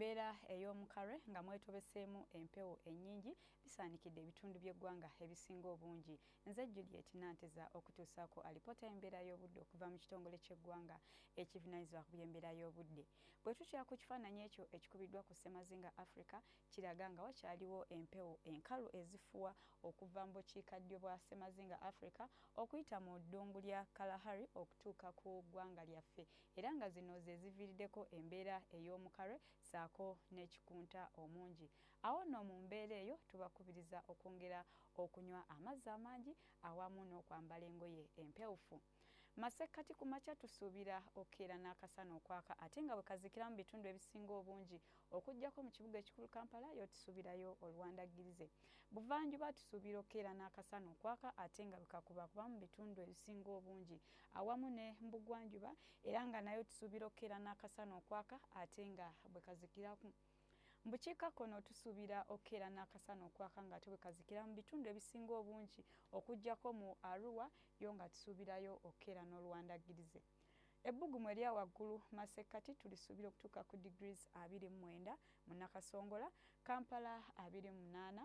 Embeera ey'omukarwe nga mwetobeseemu empewo ennyingi bisaanikidde ebitundu by'eggwanga ebisinga obungi. Nze Juliet Nanteza okutuusaako alipoota y'embeera y'obudde okuva mu kitongole ky'eggwanga ekivunanyizibwa ku by'embeera y'obudde. Bwe tutya ku kifaananyi ekyo ekikubiddwa ku ssemazinga Africa kiraga nga wakyaliwo empewo enkalu ezifuwa okuva mu bukiikaddyo bwa ssemazinga Africa okuyita mu ddungu lya Kalahari okutuuka ku ggwanga lyaffe era nga zino ze ziviiriddeko embeera ey'omukalwe ssaako n'ekikunta omungi. Awo nno mu mbeera eyo tubakubiriza okwongera okunywa amazzi amangi awamu n'okwambala engoye empewufu. Masekkati ku makya tusuubira okukeera n'akasana okwaka ate nga bwe kazikira mu bitundu ebisinga obungi okuggyako mu kibuga ekikulu Kampala yo tusuubirayo oluwandaggirize. Buvanjuba tusuubira okukeera n'akasana okwaka ate nga bwe kakubakuba mu bitundu ebisinga obungi. awamu ne mbugwanjuba era nga nayo tusuubira okukeera n'akasana okwaka ate nga bwe kazikiraku mu bukiikakkono tusuubira okukeera n'akasana okwaka nga ate bwe kazikira mu bitundu ebisinga obungi okuggyako mu arua yo nga tusuubirayo okukeera n'oluwandaggirize ebbugumu erya waggulu masekkati tulisuubira okutuuka ku degrees abiri mu mwenda mu nakasongola kampala abiri mu munaana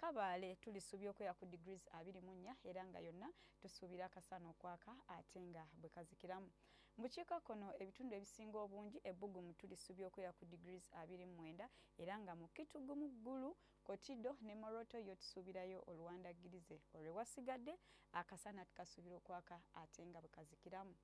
Kabaale tulisuubye okweya ku degrees abiri mu nnya era nga yonna tusuubira akasana okwaka ate nga bwe kazikiramu. Mu bukiikakkono ebitundu ebisinga obungi ebbugumu tulisuubye okweya ku degrees abiri mu mwenda era nga mu Kitgum, Gulu, Kotido ne Moroto yo tusuubirayo oluwandaggirize olwe wasigadde akasana tukasuubira okwaka ate nga bwe kazikiramu.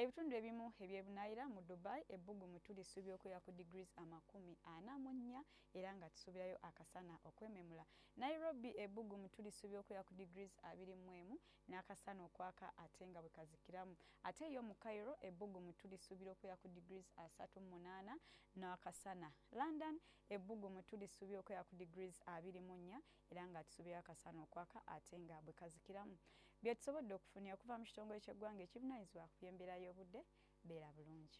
Ebitundu ebimu ebyebunaayira mu Dubai ebbugumu tulisuubira okubeera ku degrees amakumi ana mu nnya era nga tusuubirayo akasana okwememula. Nairobi ebbugumu tulisuubira okubeera ku degrees abiri mu emu n'akasana okwaka ate nga bwe kazikiramu. Ate yo mu Cairo ebbugumu tulisuubira okubeera ku degrees asatu mu munaana n'akasana. London ebbugumu tulisuubira okubeera ku degrees abiri mu nnya era ng'atusubira akasana okwaka ate nga bwe kazikiramu bye tusobodde okufunira okuva mu kitongole ky'eggwanga ekivunaanyizibwa ku by'embeera y'obudde beera bulungi